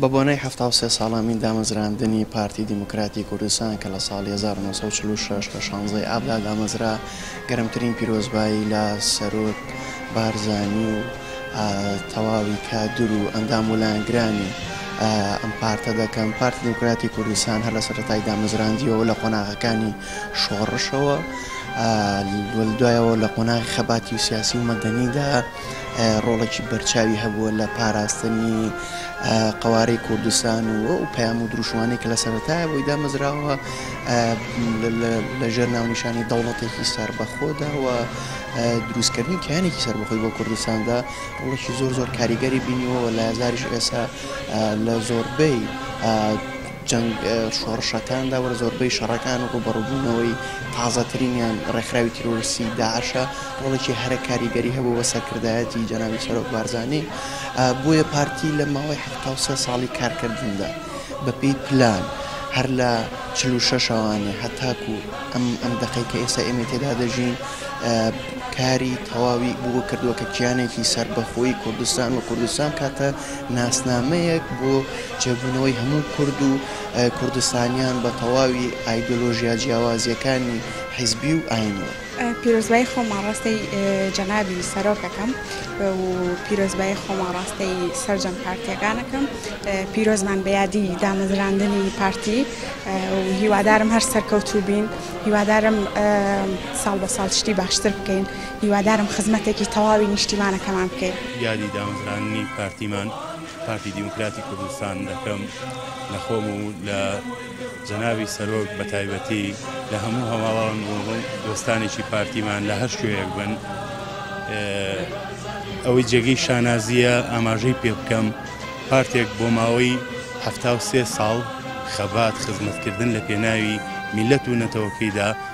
بە بۆنەی حەفتا و سێ ساڵەمین دامەزراندنی پارتی دیموکراتی کوردستان کە لە ساڵی هەزار و نۆ سەد و چل و شەش لە شانزەی ئابدا دامەزرا، گەرمترین پیرۆزبایی لە سەرۆک بارزانی و تەواوی کادر و ئەندام و لایەنگرانی ئەم پارتە دەکەم. پارتی دیموکراتی کوردستان هەر لە سەرەتای دامەزراندیەوە لە قۆناغەکانی شۆڕشەوە و دوایەوە لە قۆناغی خەباتی سیاسی و مەدەنیدا، ڕۆڵێکی بەرچاوی هەبووە لە پاراستنی قەوارەی کوردستان و ئەو پەیام و دروشمانەی کە لە سەرەتایە بۆی دامەزراوە لەژێر ناونیشانی دەوڵەتێکی سەربەخۆدا و دروستکردنی کیانێکی سەربەخۆی بۆ کوردستاندا ڕۆڵێکی زۆر زۆر کاریگەری بینیەوە لە هزاریش ئێسا لە زۆربەی جەنگ، شۆڕشەکاندا و زۆربەی شەڕەکان و ڕووبەڕووبوونەوەی تازەترینیان ڕێکخراوی تیرۆریستیی داعشە، ڕۆڵێکی هەرە کاریگەری هەبوو بە سەرکردایەتی جەنابی سەرۆک بارزانی، بۆیە پارتی لە ماوەی حەفتا و سێ ساڵی کارکردندا بەپێی پلان هەر لە چل و شەش شوانێ هەتاکوو ئەم ئەم دەقەی کە ئێستا ئێمەی تێدا دەژین کاری تەواوی بۆ کردووە کە کیانێکی سەربەخۆی کوردستان و کوردستان بکاتە ناسنامەیەک بۆ جێبوونەوەی هەموو کورد و کوردستانیان بە تەواوی ئایدۆلۆژیا جیاوازیەکانی حیزبی و ئاینیەوە. پیرۆزبایی خۆمان ڕەستەی جەنابی سەرۆک ئەکەم و پیرۆزبایی خۆمان ڕەستەی سەرجەم پارتیەکان ئەکەم. پیرۆزبان بە یادی دامەزراندنی پارتی و هیوادارم هەر سەرکەوتوو بین. هیوادارم ساڵ بە ساڵ شتی باشتر بکەین. هیوادارم خزمەتێکی تەواوی نیشتیمانەکەمان بکەین. یادی دامەزراندنی پارتیمان، پارتی دیموکراتی کوردستان، دەکەم، لە خۆم و لە جەنابی سەرۆک بە تایبەتی، لە هەموو هەواڵان و دۆستانێکی پارتیمان لە هەر کوێیەک بن. ئەوەی جێگەی شانازییە ئاماژەی پێ بکەم، پارتێک بۆ ماوەی حەفتا و سێ ساڵ خەبات، خزمەتکردن لە پێناوی میللەت و نەتەوەکەیدا،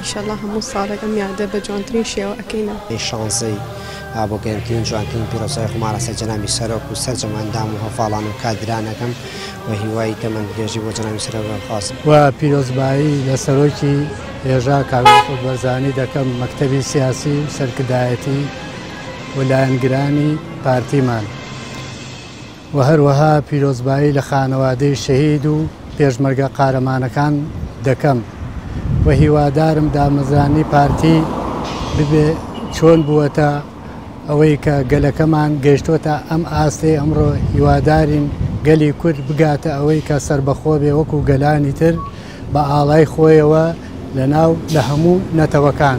ئیشەڵا هەموو ساڵێک ئەم یادە بە جوانترین شێوە ئەکەینەوە. ی شانزەی ئابۆ گەرمترین و جوانترین پیرۆزبای خۆمان لەسەر جەنابی سەرۆک و سەرجەم ئەندام و هەڤاڵان و کادران ئەکەم و هیوای تەمەن درێژی بۆ جەنابی سەرۆک ئەخوازم. و پیرۆزبایی لە سەرۆکی هێژا کاک مەسعود بەرزانی دەکەم، مەکتەبی سیاسی و سەرکردایەتی و لایەنگرانی پارتیمان. و هەروەها پیرۆزبایی لە خانەوادەی شەهید و پێشمەرگە قارەمانەکان دەکەم و هیوادارم دامەزرانی پارتی ببێ چۆن بووەتە ئەوەی کە گەلەکەمان گەیشتۆتە ئەم ئاستەی ئەمڕۆ هیوادارین گەلی کورد بگاتە ئەوەی کە سەربەخۆ بێ وەکو گەلانی تر بە ئاڵای خۆیەوە لە ناو لە هەموو نەتەوەکان.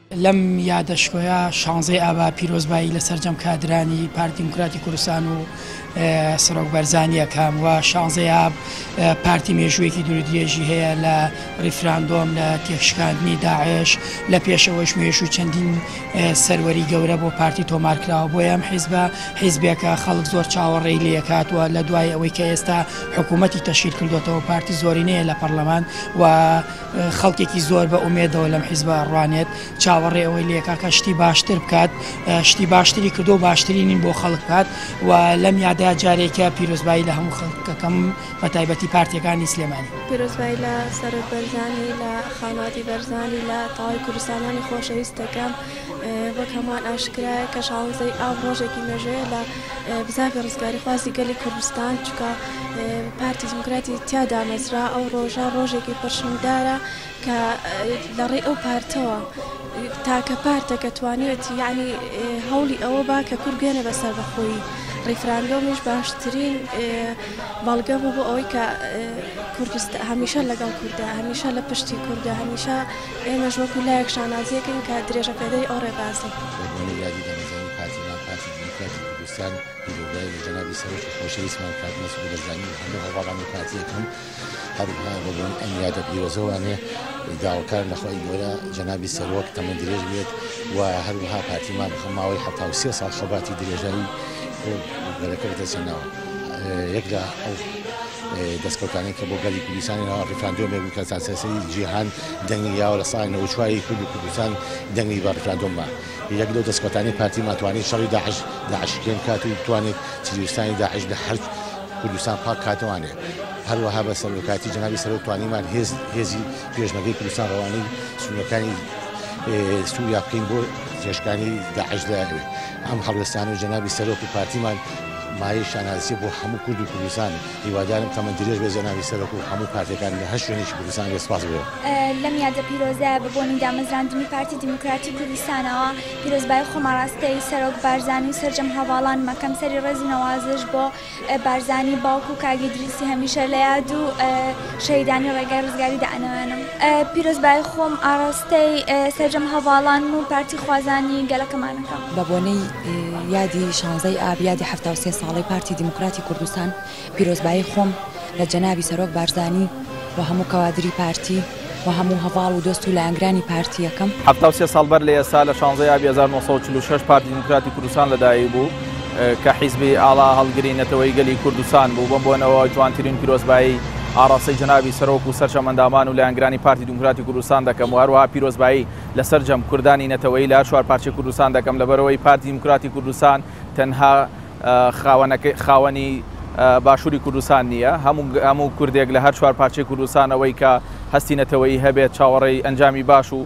لەم یادە شکۆیە شانزەی ئابا پیرۆزبایی لە سەرجەم کادرانی پارتی دیموکراتی کوردستان و سەرۆک بەرزانی ئەکەم و شانزەی ئاب پارتی مێژوویەکی دوورودرێژی هەیە لە ڕیفراندۆم لە تێکشکاندنی داعش لە پێشەوەش مێژوو چەندین سەروەری گەورە بۆ پارتی تۆمارکراوە بۆ ئەم حیزبە حیزبێکە خەڵک زۆر چاوەڕێی لەکاتوە لە دوای ئەوەی کە ئێستا حکوومەتی تەشیر کردوێتەوە پارتی زۆرینەیە لە پەرلەمان و خەڵکێکی زۆر بە ئومێدەوە لەم حیزبە ڕوانێت چاوەڕێ ئەوەی لێکاکە شتی باشتر بکات شتی باشتری کردو باشترینین بۆ خەڵک بات و لەم یادا جارێکە پیرۆزبایی لە هەموو خەڵکەکەم بە تایبەتی پارتیەکانی سلێمانی پیرۆزبایی لە سەرۆک بەرزانی لە خاناتی بەرزانی لە تاوای کوردستانانی خۆشەویستەکەم وەک هەمووان ئاشکرایە کە شانزەی ئاو ڕۆژێکی مێژەیە لە بزاڤی ڕزگاری خوازی گەلی کوردستان چکە پارتی دیموکراتی تیا دامەزرا ئەو ڕۆژە ڕۆژێکی پرشنگدارە کە لەڕێ ئەو پارتەوە تاکە پارتە کە توانێت یعنی هەوڵی ئەوە با کە کورد بێنە بە سەربەخۆی ڕیفراندۆمیش باشترین بەڵگە بوو بۆ ئەوەی کە کوردست هەمیشە لەگەڵ کوردە هەمیشە لە پشتی کوردە هەمیشە ئێمەش وەکو لایەک شانازیەکەین کە درێژە پێدەری ئەو ڕێبازی. لە کاتی کوردستان پیرۆزبایی لە جەنابی سەرۆکی خۆشەویستمان کاک مەسعود بەرزانی و هەموو هەڤاڵانی پارتییەکەم هەروەها بە بۆن ئەم یادە پیرۆزەوانێ داواکار لە خوای گەورە جەنابی سەرۆک تەمەن درێژ بێت و هەروەها پارتیمان هەم ماوەی حەفتا و سێ ساڵ خەباتی درێژایی بۆ گەلەکە بەدەستهێناوە یەک لە ئەو دەستکەوتانەی کە بۆ گەلی کوردستانی ناوە ڕیفراندۆمێک بوو کە سەراسەری جیهان دەنگی یاوە لە ساڵی نەوەچواری کورد و کوردستان دەنگی بە ڕیفراندۆممان یەک لەو دەسکەوتانەی پارتیمان توانی شەڕی داعش داعشکێن بکات و بتوانێت تیرۆریستانی داعش لە هەر کوردستان پاک بکاتەوانێ هەروەها بە سەرۆکاتی جنابی سەرۆک توانیمان هێز هێزی پێشمەگەی کوردستان ڕەوانەی سنوورەکانی سووریا بکەین بۆ تێشکانی داعش دەیانوێت ئەم هەڵوێستان و جنابی سەرۆک و پارتیمان مایە شانازی بۆ هەموو کورد و کوردستان هیوادارم تەمەن درێژ بێت جەنابی سەرۆک و هەموو پارتەکان لە هەر شوێنێکی کوردستان بێت سپاس گوزارم. لەم یادە پیرۆزەیە بە بۆنی دامەزراندنی پارتی دیموکراتی کوردستانەوە پیرۆزبایی خۆم ئاراستەی سەرۆک بارزانی و سەرجەم هەڤاڵانم ئەکەم سەری ڕێز و نەوازش بۆ بارزانی باوک و کاک ئیدریسی هەمیشە لە یاد و شەهیدانی ڕێگای ڕزگاری دائەنەوێنم. پیرۆزبایی خۆم ئاڕاستەی سەرجەم هەڤاڵان و پارتی خوازانی گەلەکەمان ئەکەم. بە بۆنەی یادی شانزەی ئاب یادی حەفتا و سێ ساڵەی پارتی دیموکراتی کوردستان، پیرۆزبایی خۆم لە جەنابی سەرۆک بارزانی و هەموو کەوادری پارتی و هەموو هەڤاڵ و دۆست و لایەنگرانی پارتی ئەکەم. حەفتا و سێ ساڵ بەر لە ئێستا، لە شانزەی ئابی هەزار و نۆ سەد و چل و شەش پارتی دیموکراتی کوردستان لەدایک بوو. کە حیزبی ئاڵا هەڵگری نەتەوەی گەلی کوردستان بوو، بەم بۆنەوە جوانترین پیرۆزبایی ئاڕاستەی جەنابی سەرۆک و سەرجەم ئەندامان و لایەنگرانی پارتی دیموکراتی کوردستان دەکەم و هەروەها پیرۆزبایی لە سەرجەم کوردانی نەتەوەیی لە هەر چوار پارچەی کوردستان دەکەم لەبەرئەوەی پارتی دیموکراتی کوردستان تەنها خاوەنی باشوری کوردستان نییە، هەموو کوردێک لە هەر چوار پارچەی کوردستان ئەوەی کە هەستی نەتەوەیی هەبێت چاوەڕێی ئەنجامی باش و.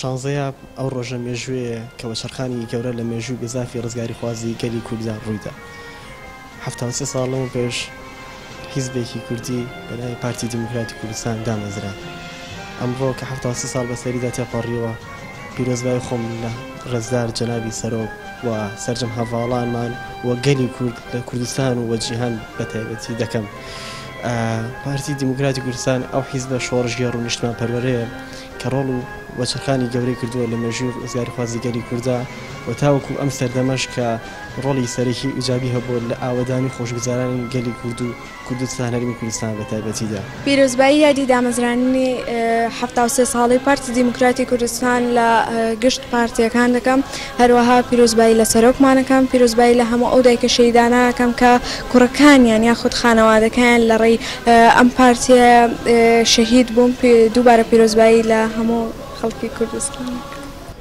شانزەی ئاب، ئەو ڕۆژە مێژوویەیە کە وەچەرخانی گەورە لە مێژووی گەزافی ڕزگاریخوازی گەلی کورددا ڕوویدا. حەفتا و سێ ساڵ لەمەو پێش حیزبێکی کوردی بە ناوی پارتی دیموکراتی کوردستان دامەزرا. ئەمڕۆ کە حەفتا و سێ ساڵ بەسەریدا تێپەڕیوە، پیرۆزبایی خۆم لە ڕێزدار جەنابی سەرۆک و سەرجەم هەڤاڵانمان و گەلی کورد لە کوردستان و جیهان بە تایبەتی دەکەم. پارتی دیموکراتی کوردستان ئەو حیزبە شۆڕشگێڕ و نیشتمانپەروەرەیە کە ڕۆڵ و وەچەرخانی گەورەی کردووە لە مێژووی ڕزگاریخوازی گەلی کوردا و تاوەکو ئەم سەردەمەش کە ڕۆڵی سەرەکی و ئیجابی هەبووە لە ئاوەدانی و خۆشگوزەرانی گەلی کورد و کوردستان هەرێمی کوردستان بە تایبەتیدا. پیرۆزبایی یادی دامەزرانی حەفتا و سێ ساڵەی پارتی دیموکراتی کوردستان لە گشت پارتییەکان دەکەم، هەروەها پیرۆزبایی لە سەرۆکمان ئەکەم، پیرۆزبایی لە هەموو ئەو دایکە شەهیدانە ئەکەم کە کوڕەکانیان یاخود خانەوادەکەیان لە ڕێی ئەم پارتییە شەهید بوون، دووبارە پیرۆزبایی لە هەموو خەڵکی کوردستان ئەکەم.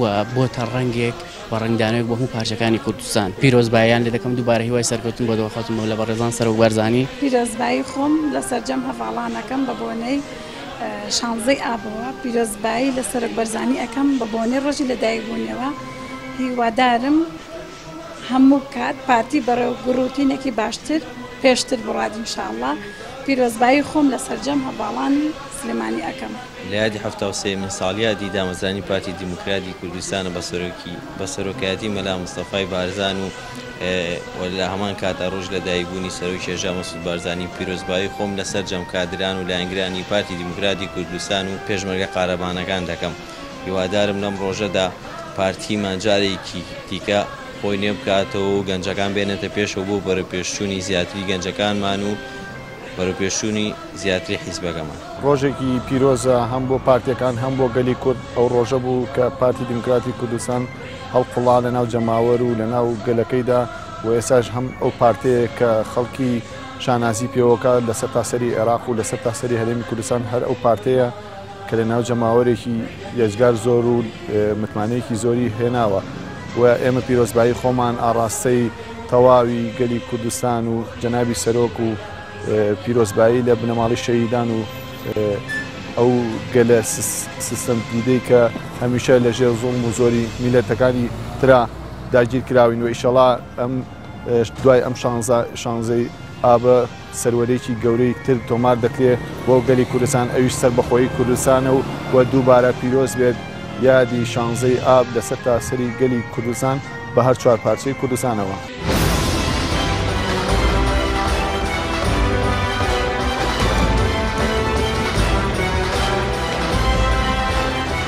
و بۆتە ڕەنگێک و ڕەنگدانەوەک بۆ هەموو پارچەکانی کوردستان پیرۆزباییان لێ دەکەم دووبارە هیوای سەرکەوتن بۆ دڵەخۆت و مەولە بەڕێزان سەرۆک بارزانی. پیرۆزبایی خۆم لە سەرجەم هەڤاڵانەکەم بە بۆنەی شانزەی ئابەوە پیرۆزبایی لە سەرۆک بەرزانی ئەکەم بە بۆنەی ڕۆژی لەدایکبوونیەوە هیوادارم هەموو کات پارتی بەڕێو گوڕوتینەکی باشتر پێشتر بڕوات ان شاء اللە پیرۆزبایی خۆم لە سەرجەم هەڤاڵانی سلێمانی ئەکەم. لە یادی حەفتا و سێیەمین ساڵیادی دامەزرانی پارتی دیموکراتی کوردستان بە سەرۆکی بە سەرۆکایەتی مەلا مستەفای بارزان و و لە هەمان کات ە ڕۆژ لەدایک بوونی سەرۆکی هێژا مەسعود بارزانی پیرۆزبایی خۆم لە سەرجەم کادران و لایەنگرانی پارتی دیموکراتی کوردستان و پێشمەرگە قارەمانەکان دەکەم. هیوادارم لەم ڕۆژەدا پارتیمان جارێکی دیکە خۆی نوێ بکاتەوە و گەنجەکان بێنێتە پێشەوە بۆ بەرەوپێشچوونی زیاتری گەنجەکانمان و بەرەوپێشچوونی زیاتری حیزبەکەمان. ڕۆژێکی پیرۆزە هەم بۆ پارتییەکان هەم بۆ گەلی کورد، ئەو ڕۆژە بوو کە پارتی دیموکراتی کوردستان هەڵقوڵا لەناو جەماوەر و لەناو گەلەکەیدا و ئێستاش هەم ئەو پارتەیە کە خەڵکی شانازی پێوەکات لە سەرتاسەری عێراق و لە سەرتاسەری هەرێمی کوردستان هەر ئەو پارتەیە کە لە ناو جەماوەرێکی یەجگار زۆر و متمانەیەکی زۆری هێناوە و ئێمە پیرۆزبایی خۆمان ئاڕاستەی تەواوی گەلی کوردستان و جەنابی سەرۆک و پیرۆزبایی لە بنەماڵی شەهیدان و ئەو گەلە سیستم دیدەی کە هەمیشە لە ژێر زوڵم و زۆری میلەتەکانی ترا داگیر کراوین و ئیشەڵا ئەم دوای ئەم شانزەی ئابە سەروەریی گەورەی تر تۆمار دەکرێ بۆ گەلی کوردستان ئەویش سەربەخۆیی کوردستانە و و دووبارە پیرۆز بێت یادی شانزەی ئاب لە سەرتاسەری گەلی کوردستان بە هەر چوار پارچەی کوردستانەوە.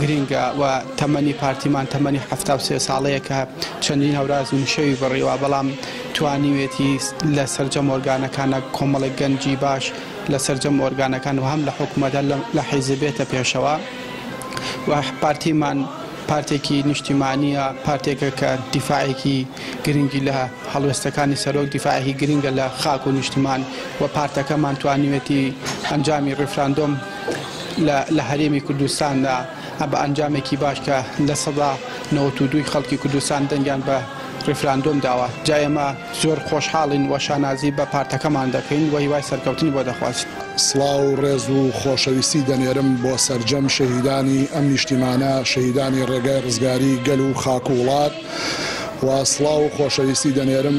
گرینگە و تەمەنی پارتیمان تەمەنی حەفتا و سێ ساڵەیە کە چەندین هەوراز و نشێوی بڕیوە بەڵام توانیوێتی لە سەرجەم ئۆرگانەکانە کۆمەڵێک گەنجی باش لە سەرجەم ئۆرگانەکان و هەم لە حکومەتە لە حیزب بێتە پێشەوە و پارتیمان پارتێکی نیشتیمانیە پارتێکە کە دیفاعێکی گرنگی لە هەڵوێستەکانی سەرۆک دیفاعێکی گرنگە لە خاک و نیشتمان و پارتەکەمان توانیوێتی ئەنجامی ڕیفراندۆم لە هەرێمی کوردستاندا بە ئەنجامێکی باش کە لە سەدا نەوەت و دووی خەڵکی کوردستان دەنگیان بە ڕیفراندۆم داوە جا ئێمە زۆر خۆشحاڵین و شانازی بە پارتەکەمان دەکەین و هیوای سەرکەوتنی بۆ دەخوازین. سڵاو و ڕێز و خۆشەویستی دەنێرم بۆ سەرجەم شەهیدانی ئەم نیشتیمانە، شەهیدانی ڕێگای ڕزگاری گەل و خاک و وڵات و سڵاو و خۆشەویستی دەنێرم،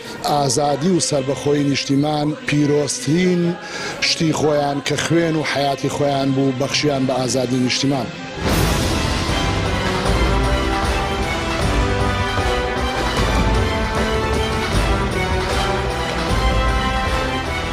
ئازادی و سەربەخۆیی نیشتیمان پیرۆزترین شتی خۆیان کە خوێن و حەیاتی خۆیان بوو بەخشیان بە ئازادی نیشتیمان.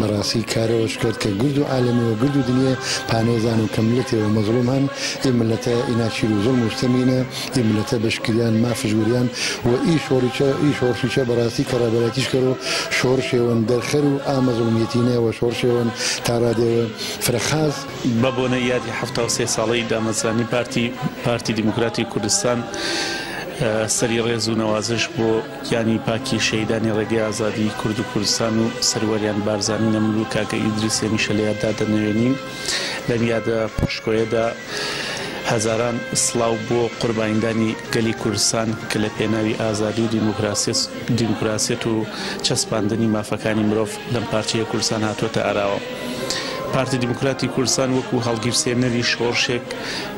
بەڕاسی کارەوەش کەرد کە گرد و عالەمی وە گرد و دنیێ پانێ زانن کە ملەتێ وە مەزڵوم هەن ئی ملەتە ئی ناچیر و زوڵم و ستەمینە ئی ملەتە بەش کریان مافش وریان وە ئی شۆڕیچە ئی شۆڕشیچە بەڕاستی کەڕابەرایتیش کەر و شۆڕشێ وەن دەرخەر و ئا مەزڵومیەتینە وە شۆڕشێ وەن تا ڕادێ وە فرە خاس بە بۆنەی یادی حەفتا و سێ ساڵەی دامەزرانی پارتی پارتی دیموکراتی کوردستان سەری ڕێز و نەوازش بۆ. گیانی پاکی شەهیدانی ڕێگەی ئازادی کورد و کوردستان و سەروەریان بارزانی نەمر و کاکە ئیدریس هەمیشە لە یاددا دەنەوێنین. لەم یادە پڕشکۆیەدا هەزاران سڵاو بۆ قوربانیدانی گەلی کوردستان کە لە پێناوی ئازادی و دیموکراسیەت و چەسپاندنی مافەکانی مرۆڤ لەم پارچەیە کوردستان هاتووەتە ئاراوە. پارتی دیموکراتی کوردستان وەکو هەڵگیرسێنەری شۆڕشێک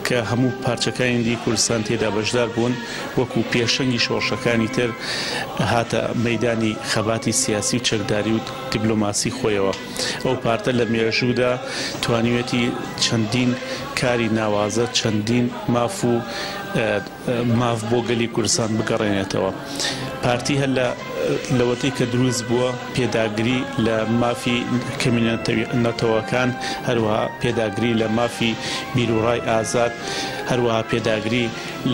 کە هەموو پارچەکانی دی کوردستان تێدا بەشدار بوون، وەکو پێشەنگی شۆڕشەکانی تر هاتە مەیدانی خەباتی سیاسی و چەکداری و دیبلۆماسی خۆیەوە. ئەو پارتە لە مێژوودا توانیوێتی چەندین کاری ناوازە، چەندین ماف و ماف بۆ گەلی کوردستان بگەڕێنێتەوە. پارتی هەر لە لەوەتەی کە دروست بووە پێداگری لە مافی کەمینە نەتەوەکان، هەروەها پێداگری لە مافی بیروڕای ئازاد، هەروەها پێداگری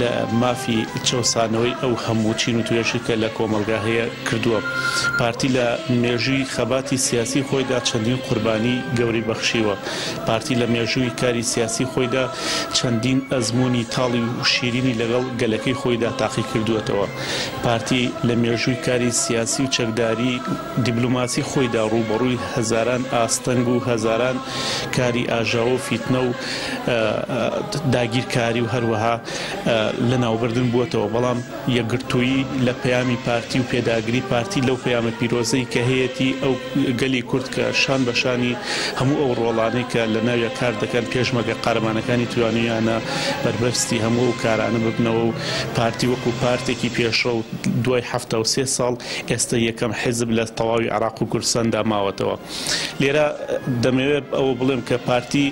لە مافی چەوسانەوەی ئەو هەموو چین و توێژی کە لە کۆمەڵگا هەیە کردووە. پارتی لە مێژووی خەباتی سیاسی خۆیدا چەندین قوربانی گەوری بەخشیوە. پارتی لە مێژووی کاری سیاسی خۆیدا چەندین ئەزموونی تاڵی و شیرینی لەگەڵ گەلەکەی خۆیدا تاقی کردووەتەوە. پارتی لە مێژووی کاری سیاسی و چەکداری، دیبلۆماسی خۆیدا ڕووبەڕووی هەزاران ئاستەنگ و هەزاران کاری ئاژاوە و فیتنە و داگیرکاری و هەروەها لەناوبردن بووەتەوە، بەڵام یەکگرتوویی لە پەیامی پارتی و پێداگری پارتی لەو پەیامە پیرۆزەی کە هەیەتی ئەو گەلی کورد کە شان بە شانی هەموو ئەو ڕۆڵانەی کە لەناویا کار دەکەن پێشمەرگە قارەمانەکانی توانیویانە بەربەستی هەموو ئەو کارانە ببنەوە و پارتی وەکو پارتێکی پێشڕەو دوای حەفتا و سێ ساڵ ئێستە یەکەم حیزب لە تەواوی عێراق و کوردستاندا ماوەتەوە. لێرە دەمەوێت ئەوە بڵێم کە پارتی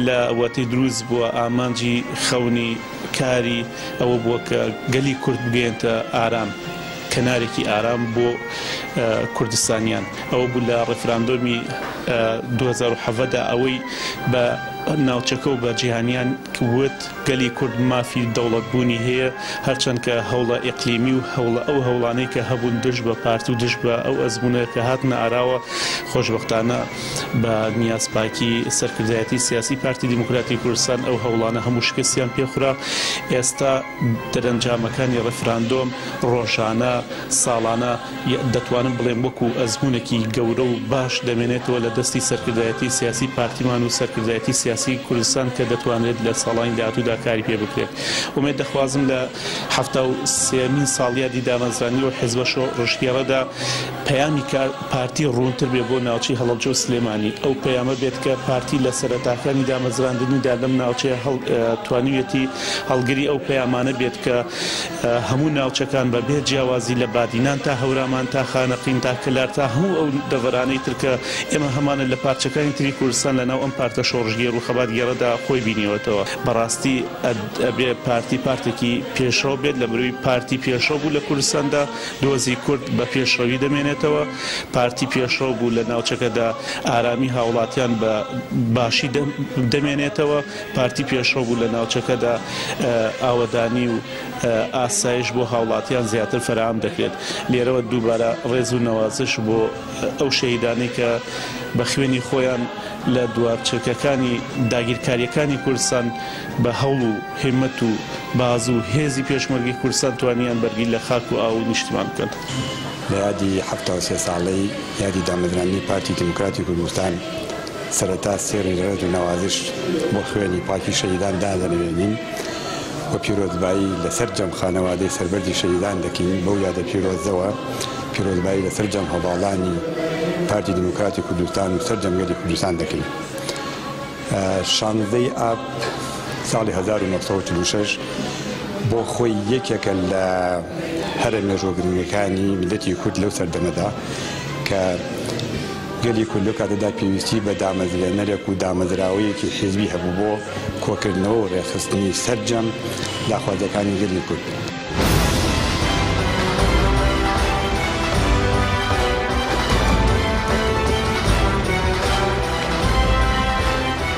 لە وەتەی دروست بووە ئامانجی خەونی کاری ئەوە بووە کە گەلی کورد بگەیەنتە ئارام، کەنارێکی ئارام بۆ کوردستانیان. ئەوە بوو لە ڕیفراندۆمی دوو هەزار و حەڤدە ئەوەی بە ناوچەکە و بە جیهانیان وت. گەلی کورد مافی دەوڵەت بوونی هەیە، هەرچەند کە هەوڵە ئیقلیمی و هەوڵە ئەو هەوڵانەی کە هەبوون دژ بە پارت و دژ بە ئەو ئەزموونە کە هاتنە ئاراوە خۆشبەختانە بە نیاز پاکی سەرکردایەتی سیاسی پارتی دیموکراتی کوردستان ئەو هەوڵانە هەموو شکستیان پێ خورا ئێستا دەرەنجامەکانی ڕیفراندۆم ڕۆژانە ساڵانە ی دەتوانم بڵێم وەکو ئەزموونێکی گەورە و باش دەمێنێتەوە لە دەستی سەرکردایەتی سیاسی پارتیمان و سەرکردایەتی سیاسی کوردستان کە دەتوانرێت لە ساڵانی داهاتوودا کاری پێ بکرێت ئومێد دەخوازم لە حەفتا و سێیەمین ساڵیادی دامەزرانی ئەو حیزبە شۆڕشگێڕەدا پەیامی پارتی ڕوونتر بێ بۆ ناوچەی هەڵەبجە و سلێمانی ئەو پەیامە بێت کە پارتی لە سەرەتاکانی دامەزراندنیدا لەم ناوچەیە توانیویەتی هەڵگری ئەو پەیامانە بێت کە هەموو ناوچەکان بە بێ جیاوازی لە بادینان تا هەورامان تا خانەقین تا کەلار تا هەموو ئەو دەڤەرانەی تر کە ئێمە هەمانە لە پارچەکانی تری کوردستان لە ناو ئەم پارتە شۆڕشگێر و خەباتگێڕەدا خۆی بینیوەتەوە بەڕاستی ئەبێ پارتی پارتێکی پێشڕەو بێت لە بروی پارتی پێشڕەو بوو لە کوردستاندا دۆزی کورد بە پێشڕەوی دەمێنێتەوە پارتی پێشڕەو بوو لە ناوچەکەدا ئارامی هاوڵاتیان بە باشی دەمێنێتەوە. پارتی پێشڕەو بوو لە ناوچەکەدا ئاوەدانی و ئاسایش بۆ هاوڵاتیان زیاتر فەرام دەکرێت لێرەوە دووبارە ڕێز و نەوازش بۆ ئەو شەهیدانەی کە بە خوێنی خۆیان لە دوار چرکەکانی داگیرکاریەکانی کوردستان بە هەوڵ و هیمەت و باز و هێزی پێشمەرگی کوردستان توانیان بەرگی لە خاک و ئاو و نیشتیمان بکەن. لە یادی حەفتا و سێ ساڵەی یادی دامەزراندنی پارتی دیموکراتی کوردستان، سەرەتا سێڕی ڕێز و نەوازش بۆ خوێنی پاکی شەهیدان دادەنەوێنین و پیرۆزبایی لەسەرجەم خانەوادەی سەربەرزی شەهیدان دەکەین، بەو یادە پیرۆزەوە پیرۆزبایی لەسەرجەم هەڤاڵانی پارتی دیموکراتی کوردستان و سەرجەم گەلی کوردستان دەکەین. شانزدە ی ئاب ساڵی هەزار و نۆ سەد و چل و شەش بۆ خۆی یەکێکە لە هەرە مێژووە گرنگەکانی میللەتی کورد لەو سەردەمەدا کە، گەلی کورد لەو کاتەدا پێویستی بە دامەزرێنەرێک و دامەزراوەیەکی حیزبی هەبوو بۆ کۆکردنەوە و ڕێکخستنی سەرجەم داخوازییەکانی گەلی کورد.